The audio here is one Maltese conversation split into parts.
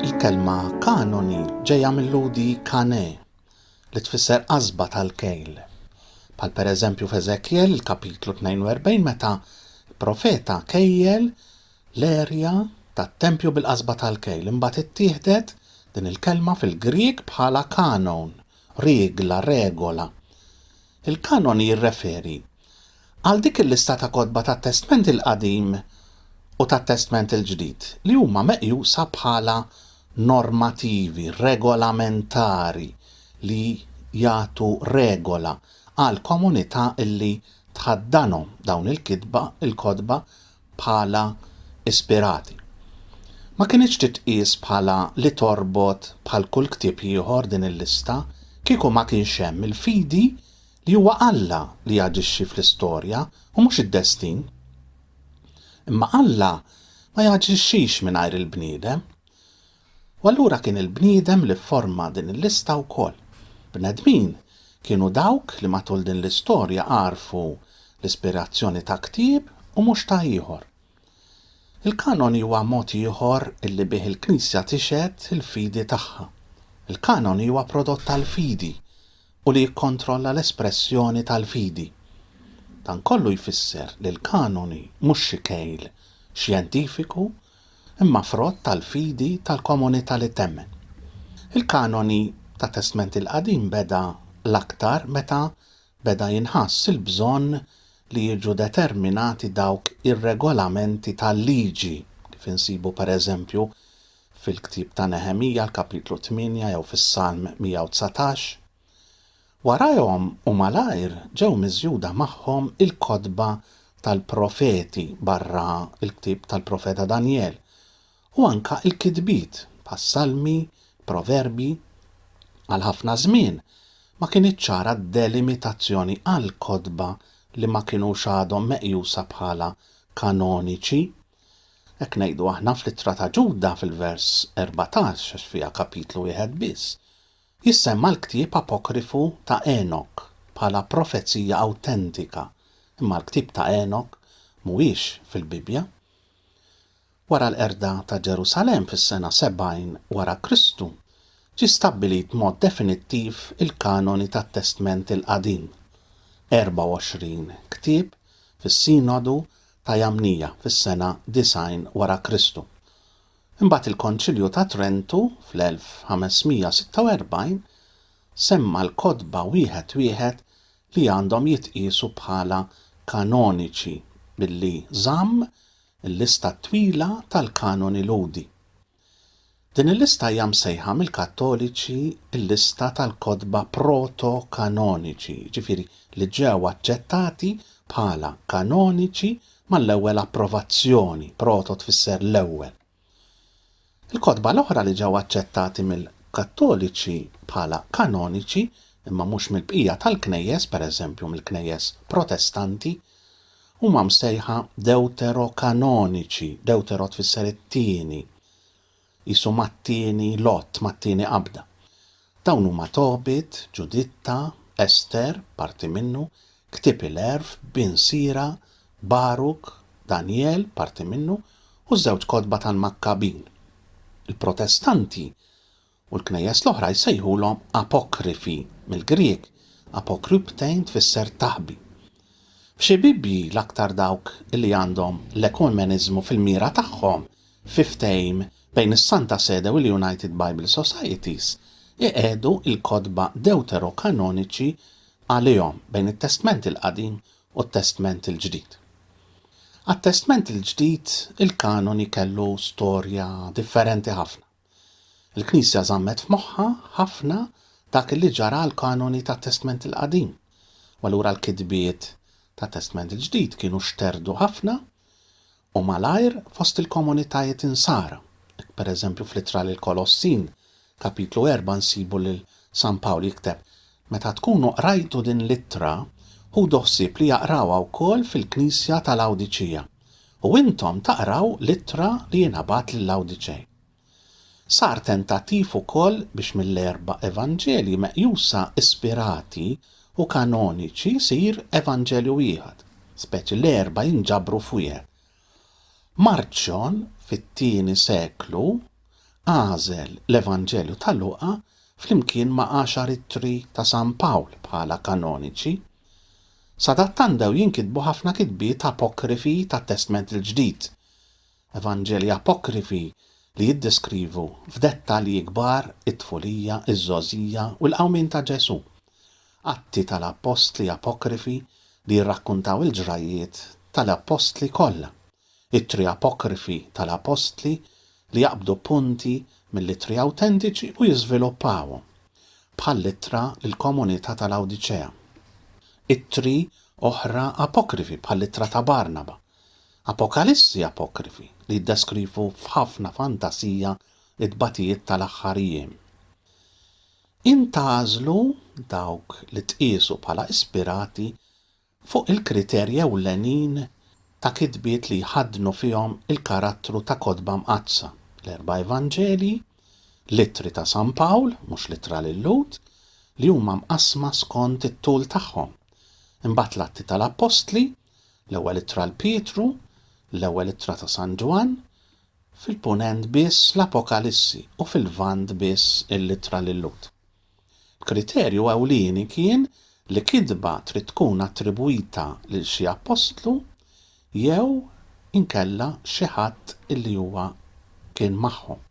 Il-kelma kanoni ġejja mill-ludi kane li tfisser qasba tal-kejl. Pal per eżempju f'Eżekjel il-kapitlu 42 meta profeta kejjel L-erja tat-tempju bil-qasba tal-kejl. Imbagħad ittieħdet din il-kelma fil-Grieg bħala kanon, riegla, regola. Il-kanon jirreferi għal dik il-lista ta' kotba tat-Testment il-Qadim u tat-Testment il-Ġdid li huma meqjusa bħala normativi, regolamentari, li jagħtu regola għal komunità li tħaddanhom, dawn il-kitba, il-kotba, bħala ispirati. Ma kinitx titqies bħala li torbot bħal kull ktieb ieħor din il-lista kieku ma kienx hemm il-fidi li huwa Alla li jaġixxi fl-istorja u mhux id-destin. Imma Alla ma jaġixxix mingħajr il-bniedem. U allura kien il-bniedem li fforma din il-lista wkoll. Bnedmin kienu dawk li matul din l-istorja għarfu l-ispirazzjoni ta' ktieb u mhux ta' ieħor. Il-kanoni huwa mod ieħor illi bih il-Knisja tixhed il-fidi tagħha. Il-kanoni huwa prodott tal-fidi u li jikkontrolla l-espressjoni tal-fidi. Dan kollu jfisser li l-kanoni mhux xi kejl xjentifiku imma frott tal-fidi tal-komunità li temmen. Il-kanoni tat-Testment il-Qadim beda l-aktar meta beda jinħass il-bżonn li jiġu determinati dawk ir-regolamenti tal-liġi, kif insibu pereżempju fil-ktieb ta' Neħemija l-kapitlu tmienja jew fis-Salm 119. Warajhom u malajr ġew miżjuda magħhom il-kotba tal-profeti, barra l-ktieb tal-profeta Danjel, u anke l-kitbiet bħas-Salmi, Proverbji. Għal ħafna żmien ma kinitx ċara d-delimitazzjoni għal kotba li ma kinux għadhom meqjusa bħala kanoniċi. Hekk ngħidu aħna fl-Ittra ta' Ġuda fil-vers 14 għax fiha kapitlu wieħed biss, Jissemma l-ktieb apokrifu ta' Enok bħala profezija awtentika, imma l-ktieb ta' Enok mhuwiex fil-Bibbja. Wara l-qerda ta' Ġerusalemm fis-sena 70 wara Kristu, ġie stabbilit b'mod definittiv il-kanoni tat-Testment il-Qadim, 24 ktieb fis-Sinodu ta' Jamnia fis-sena 90 wara Kristu. Imbagħad il-Konċilju ta' Trentu fl-1546 semma l-kotba wieħed wieħed li għandhom jitqiesu bħala kanoniċi billi żamm il-lista t-twila tal-kanoni Lhudi. Din il-lista hija msejħa mill-Kattoliċi l-lista tal-kotba proto-kanoniċi, jiġifieri li ġew aċċettati bħala kanoniċi mal-ewwel approvazzjoni, proto tfisser l-ewwel. Il-kotba l-oħra li ġew aċċettati mill-Kattoliċi bħala kanoniċi, imma mhux mill-bqija tal-Knejjes, pereżempju mill-Knejjes Protestanti, huma msejħa Dewterokanoniċi, Dewtero tfisser it-tieni. Qisu mat-tieni lott, mat-tieni qabda. Dawn huma Tobit, Ġuditta, Ester, parti minnu, ktieb il-Għerf, Bin Sira, Baruk, Danjel, parti minnu, u ż-żewġ kotba tal-Makkabin. Il-Protestanti u l-Knejjes l-oħra jsejħulhom Apokrifi, mill-Grieg, apokryptein tfisser taħbi. F'xi Bibbji, l-aktar dawk li għandhom l-ekuemeniżmu fil-mira tagħhom, fi ftehim bejn is-Santa Sede u l-United Bible Societies, iqiegħdu l-kotba Dewterokanoniċi għalihom bejn it-Testment il-Qadim u t-Testment il-Ġdid. Għat-Testment il-Ġdid, il-kanoni kellu storja differenti ħafna. Il-Knisja żammet f'moħħha ħafna dak li ġara għall-kanoni tat-Testment il-Qadim, u allura l-kitbiet tat-Testment il-Ġdid kienu xterdu ħafna u malajr fost il-komunitajiet Insara. Hekk pereżempju fl-Ittra lill-Kolossin, kapitlu 4 nsibu lil San Pawl jikteb, Meta tkunu qrajtu din l-ittra, ħudu ħsieb li jaqrawha wkoll fil-Knisja ta' Lawdiċija. u intom taqraw l-ittra li jingħabat lill-Għawdiċej. Sar tentattiv ukoll biex mill-erba' Evanġelji meqjusa ispirati u kanoniċi jsir Evanġelju wieħed, speċi l-erba' jinġabru f'wieħed. Marċjon, fit-tieni seklu, għażel l-Evanġelju ta' Luqa flimkien ma' għaxar ittri ta' San Pawl bħala kanoniċi. Sadattant bdew jinkitbu ħafna kitbiet apokrifi tat-Testment il-Ġdid, evanġelji apokrifi li jiddeskrivu f'dettalji kbar it-tfulija, iż-żgħożija u l-qawmien ta' Ġesù, Atti tal-Appostli apokrifi li jirrakkuntaw il-ġrajjiet tal-appostli kollha, Ittri apokrifi tal-appostli li jaqbdu punti mill-Ittri awtentiċi u jiżviluppawhom, bħall-Ittra lill-komunità ta' Lawdiċea. Ittri oħra apokrifi, bħall-Ittra ta' Barnaba. Apokalissi apokrifi li jiddeskrivu f'ħafna fantasija t-tbatijiet tal-aħħar jiem. Int tagħżlu dawk li tqiesu bħala ispirati fuq il-kriterji ewlenin ta' kitbiet li jħaddnu fihom il-karattru ta' kotba mqaddsa, l-erba' Evanġelji, l-Ittri ta' San Pawl, mhux l-Ittra lil Lhud, li huma mqassma skond it-tul tagħhom, imbagħad l-Atti tal-Appostli, l-Ewwel Ittra 'l Pietru, l-Ewwel Ittra ta' San Ġwann, fil-Punent biss l-Apokalissi u fil-Lvant biss l-Ittra lil Lhud. L-kriterju ewlieni kien li kitba trid tkun attribwita lil xi appostlu jew inkella xi ħadd illi huwa kien magħhom.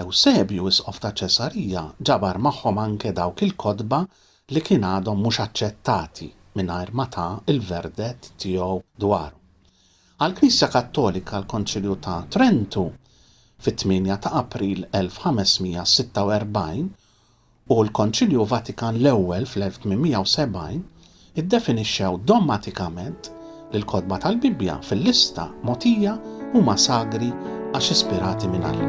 Ewsebju, isqof ta' Ċesarija, ġabar magħhom anke dawk il-kotba li kien għadhom mhux aċċettati mingħajr ma ta l-verdett tiegħu dwarhom. Għall-Knisja Kattolika l-Konċilju ta' Trentu fit-tmienja ta' April 1546 u l-Konċilju Vatikan l-Ewwel fl-1870 iddefinixxew dogmatikament li l-kotba tal-Bibbja fil-lista mogħtija huma sagri għax ispirati minn Alla.